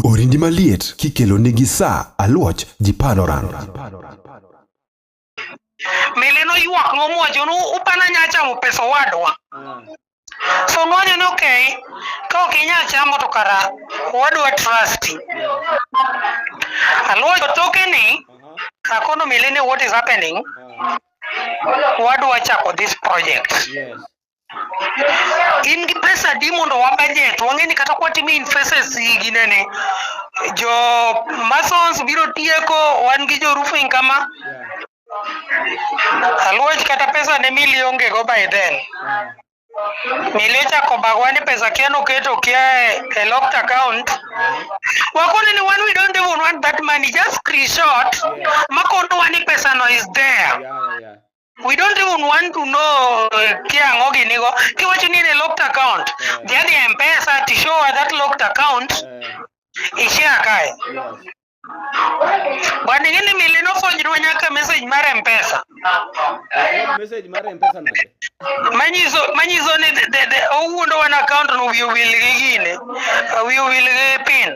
Orindi maliet kikelo nigi sa aluoch ji panoran. mele noywak ng'omwacho ni upana nya chamo pesa owadwa so ng'onyo ni okay ka ok inyal chamo to kara owadwa trust aluocho toke ni akono mele ni what is happening owadwa chako this project in gi pesa di mondo wabajet wang'e ni kata kwatimi infeses ginene jo masons biro tieko wan gi jo roofing kama aluoch kata pesa ne mili onge go by then mili ochako bagwa ni pesa kia noketo kia e locked account wakone ni one we don't even want that money just screenshot makonowa ni pesa no is there yeah, yeah. we don't even want to know ke ang'o ginigo kiwacho ni in a locked account dhi adhi e mpesa to show her that locked account ishare kae bwana ing'e ni mili nofwenyrwa nyaka message mar mpesa message mar mpesa nade manyiso manyiso ni the- the- the- owuondo wan account no wiye wil gi gine wiye wil gi pin